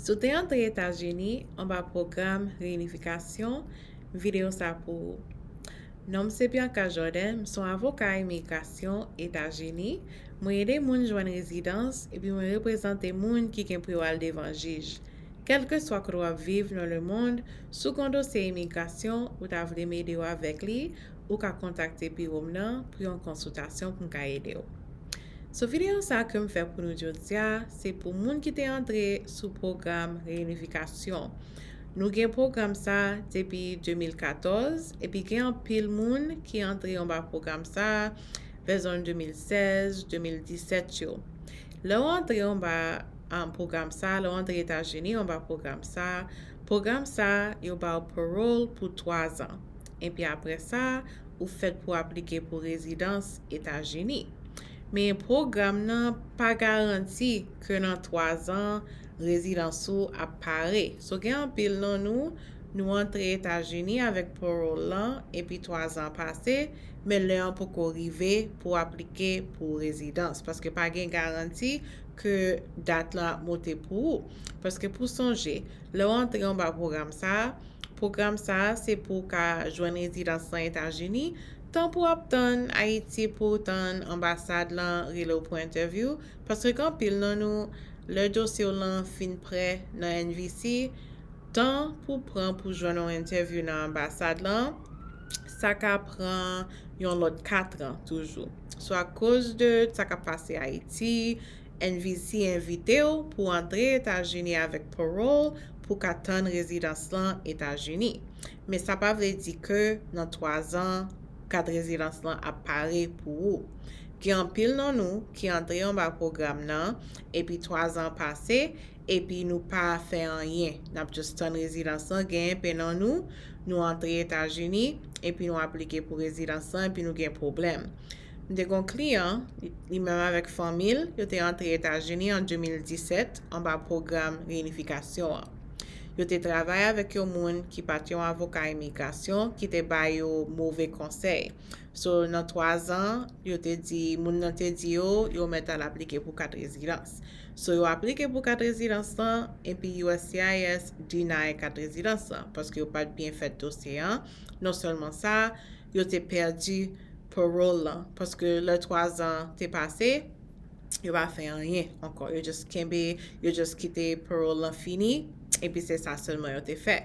Si w te antre Etazini, anba pwogram reyinifikasyon, videyo sa pou ou. Non m se Bianca Jordan, m se yon avoka imigrasyon Etazini, mwen ede moun jwenn rezidans epi mwen reprezante moun ki gen pou yo al devan jij. Kèlkeswa kote w ap viv nan lemond, si w gen yon dosye imigrasyon ou ta vle m ede w avèk li, ou ka kontakte biwo m nan pou yon konsiltasyon pou m ka ede w. Sou videyo sa kem fè pou nou jodia se pou moun ki te antre sou pwogram reyinifikasyon. Nou gen pwogram sa depi 2014 epi gen anpil moun ki antre anba pwogram sa vè zòn 2016, 2017 yo. Lè ou antre anba pwogram sa, lè ou antre Etazini anba pwogram sa, pwogram sa yo ba ou parole pou 3 zan. epi apre sa ou fèt pou aplike pou rezidans Etazini. Men pwogram nan pa garanti ke nan 3 zan rezidans ou ap pare. So gen anpil nan nou, nou antre Etazini avèk parole lan epi 3 zan pase, men lè an poko rive pou aplike pou rezidans. Paske pa gen garanti ke dat lan ap monte pou ou. Paske pou sonje, lè w antre anba pwogram sa a, Pwogram sa a se pou w ka jwenn rezidans nan Etazini, tan pou w ap tann Ayiti pou w tann anbasad lan rele w pou entèvyou, paske gen anpil nan nou, lè dosye w lan fin prè nan NVC, tan pou w pran pou jwenn yon entèvyou nan anbasad lan, sa ka pran yon lòt katran toujou. Swa akoz de sa k ap pase Ayiti, NVC envite w pou antre Etazini avèk parole pou ka tann rezidans lan Etazini. Men sa pa vle di ke nan 3 zan kat rezidans lan ap pare pou ou. Gen anpil nan nou ki antre anba pwogram nan epi 3 zan pase epi nou pa fè anyen nap just tann rezidans lan genyen pe nan nou, nou antre Etazini epi nou aplike pou rezidans lan epi nou gen pwoblèm. M te gen yon kliyan, li menm avèk fanmi l, yo te antre Etazini an 2017 anba pwogram reyinifikasyon an. Yo te travay avèk yon moun ki pa t yon avoka imigrasyon ki te ba yo move konsèy. So, nan twazan, yo te di, moun nan te di yo, yo mèt al aplike pou kat rezidans. So, yo aplike pou kat rezidans lan, epi uscis deny kat rezidans lan, paske yo pa t byen fèt dosye an, non sèlman sa, yo te pèdi parole lan paske lè 3 zan te pase yo pa fè anyen ankò yo just kenbe yo just kite parole lan fini epi se sa sèlman yo te fè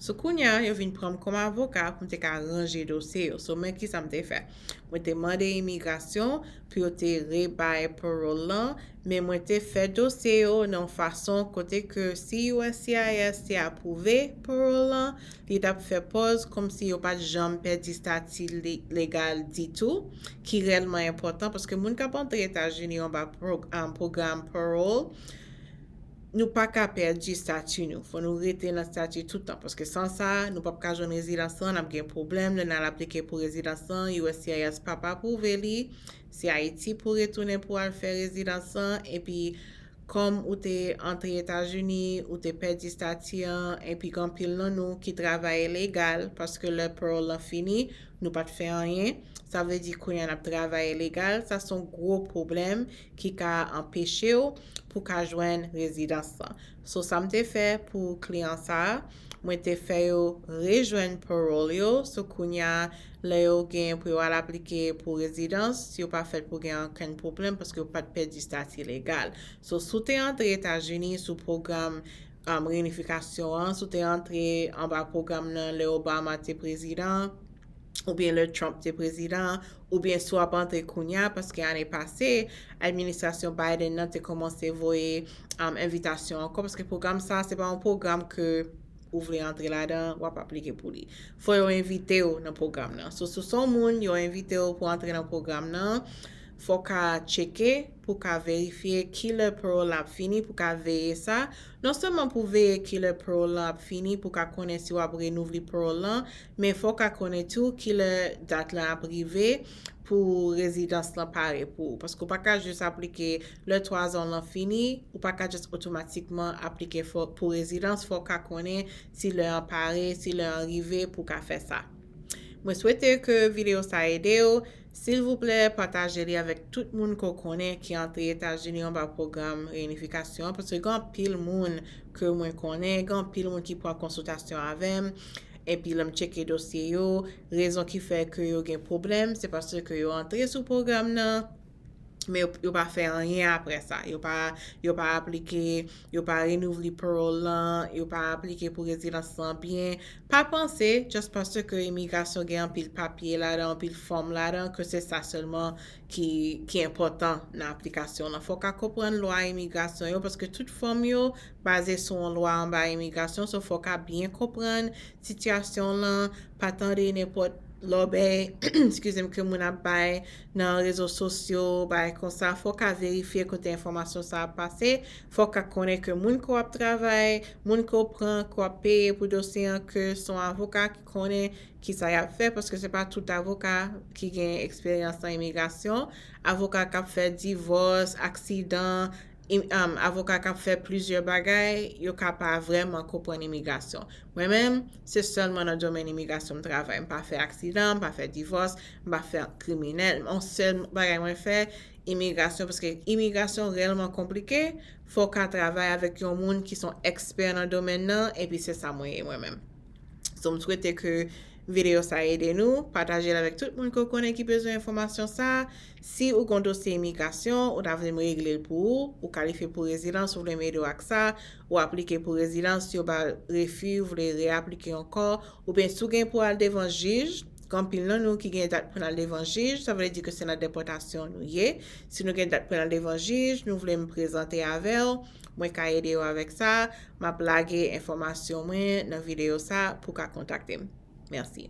so kounya yo vin pranm kòm avoka pou m te ka ranje dosye yo so men kisa m te fè mwen te mande imigrasyon pou yo te re bay parole lan men mwen te fè dosye yo nan yon fason kote ke si uscis te apwouve parole lan Li tap fè pòz kòmsi yo pat janm pèdi stati legal ditou, ki rèlman enpòtan paske moun kap antre Etazini anba pwogram parole, nou paka pèdi stati nou, fò nou rete nan stati toutan paske san sa, nou pap ka jwenn rezidans lan, nap gen pwoblèm lè nal aplike pou rezidans lan, uscis pap apwouve li, se Ayiti pou retounen pou al fè rezidans lan, epi Kòm ou te antre Etazini, ou te pèdi stati an, enpi gen anpil nan nou ki travay ilegal, paske lè parole lan fini, nou pa t fè anyen, sa vle di kounye a n ap travay ilegal, sa se yon gwo pwoblèm ki ka anpeche w pou ka jwenn rezidans lan. So sa m te fè pou kliyan sa a, Mwen te fè yo rejwenn parole yo, so kounya lè yo gen pou yo al aplike pou rezidans, yo pa fèt pou gen ankenn pwoblèm paske yo pat pèdi stati legal. So si w te antre Etazini sou pwogram um reinifikasyon an, si w te antre anba pwogram nan lè Obama te prezidan, oubyen lè Trump te prezidan, oubyen si w ap antre kounya, paske ane pase, administrasyon Biden nan te kòmanse voye envitasyon ankò, paske pwogram sa a, se pa yon pwogram ke ou vle antre ladan, w ap aplike pou li. Fò yo envite w nan pwogram nan. So, si w se yon moun, yo envite w pou antre nan pwogram nan, fò w ka tcheke, pou w ka verifye ki lè parole lan ap fini, pou w ka veye sa. Non sèlman pou veye ki lè parole lan ap fini, pou w ka konnen si w ap renouvle parole lan, Men fò w ka konnen tou ki lè dat lan ap rive pou rezidans lan pare pou ou. Paske ou pa ka jis aplike lè twazan w lan fini, ou pa ka jis otomatikman aplike pou rezidans, fò w ka konnen si lè an pare, si lè an rive pou w ka fè sa. Mwen swete ke videyo sa ede w, silvouplè pataje li avèk tout moun ke w konnen ki antre Etazini anba pwogram reyinifikasyon an, paske gen anpil moun ke mwen konnen, gen anpil moun ki pran konsiltasyon avè m, Epi lè m tcheke dosye yo, rezon ki fè ke yo gen pwoblèm, se paske yo antre sou pwogram nan, men yo pa fè anyen apre sa. Yo pa aplike, yo pa renouvle parole lan, yo pa aplike pou rezidans lan byen. Pa panse, just paske imigrasyon gen anpil papye ladan, anpil fòm ladan, ke se sa sèlman ki enpòtan nan aplikasyon w lan. Fò w ka konprann lwa imigrasyon yo paske tout fòm yo baze sou yon lwa anba imigrasyon so fò w ka byen konprann sitiyasyon w lan, pa tande nenpòt lòbèy eskize m ke moun ap bay nan rezo sosyo bagay konsa, fò w ka verifye kote enfòmasyon sa ap pase, fò w ka konnen ke moun ke w ap travay, moun ke w pran, ke w ap peye pou dosye an ke se yon avoka. konnen kisa y ap fè paske se pa tout avoka ki gen eksperyans nan imigrasyon, avoka k ap fè divòs, aksidan, avoka k ap fè plizyè bagay, yo ka pa vrèman konprann imigrasyon. Mwen menm, se sèlman nan domèn imigrasyon m travay. M pa fè aksidan, m pa fè divòs, m pa fè kriminèl. M an sèl bagay mwen fè, imigrasyon paske imigrasyon rèlman konplike, fò w ka travay avèk yon moun ki son ekspè nan domèn nan epi se sa mwen ye mwen menm. So m swete ke video sa ede nou, pataje l avèk tout moun ke w konnen ki bezwen enfòmasyon sa. Si ou gen yon dosye imigrasyon, ou ta vle m regle l pou ou, ou kalifye pou rezidans ou vle m ede w ak sa, ou aplike pou rezidans yo ba w refi ou vle reaplike ankò, oubyen si w gen pou w al devan jij, gen anpil nan nou ki gen dat pou n al devan jij, sa vle di ke se nan depòtasyon nou ye, si nou gen dat pou n al devan jij, nou vle m prezante avè w, Mwen ka ede ou avèk sa, m ap lage enfòmasyon mwen nan videyo sa pou w ka kontakte m. Mèsi.